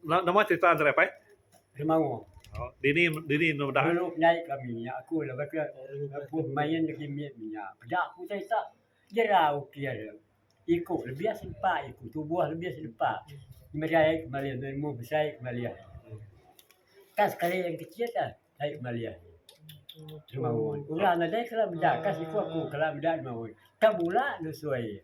Nama cerita ande pai? Demau. Dini dini enda meda. Dulu nyai kami nya aku laban ke lebuh main lagi mit nya peda ku utai ita. Jerau ukir iko lebih sempa iko tubuh lebih sempa merai kemali ilmu besai kemali. Ka sekali yang kecil ka ai kemali. Demau orang nadai kala meda ka siko aku kala meda demau. Ka bula nusui.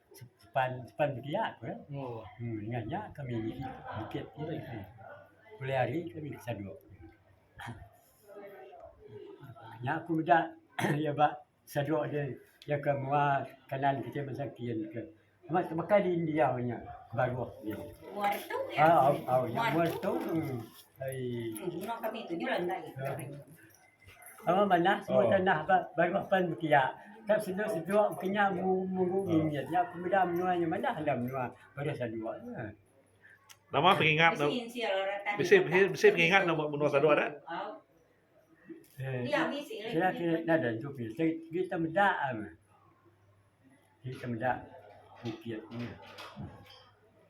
sepan sepan belia ku iya um dengan nya kami niki bukit pulai hari kami ke Sadok nya ku meda iya ba Sadok ri iya ke mua kanan kiti masa kin ke amat ke baka di diau nya baruh nya um au nya mua tu um ai Sama manah semua tanah ba baruh pan bepiak. Ka sendu sejuk engke nya mu muru mimit nya pemeda menua nya manah enda menua baruh Sandua nya. Nama pengingat ne bisi bisi pengingat ne ba menua Sandua da? Pia ke nadai antu ke se ke te meda meh. Ke te meda bukit nya.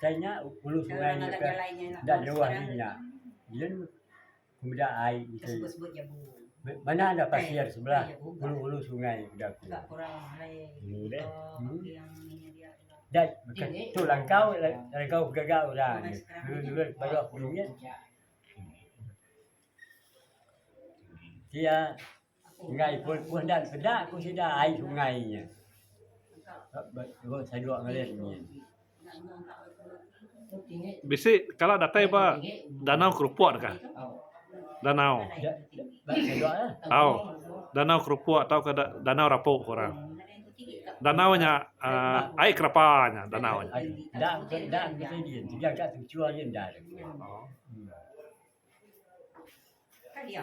Kai nya hulu sungai nya ke enda jauh ari nya yen pemeda ai enti mana enda pasir sebelah hulu-hulu sungai peda ku enu deh enda baka tu langkau langkau gaga orang dulu-dulu baruh peningit enti iya. Enggai pun puh dan peda ku sida ai sungai nya. Bisi kala datai ba danau kerupok deka. Danau. Au. Danau kerupok tau ka danau rapok ku orang. Danau nya aaa ai kerapa nya danau nya. Au.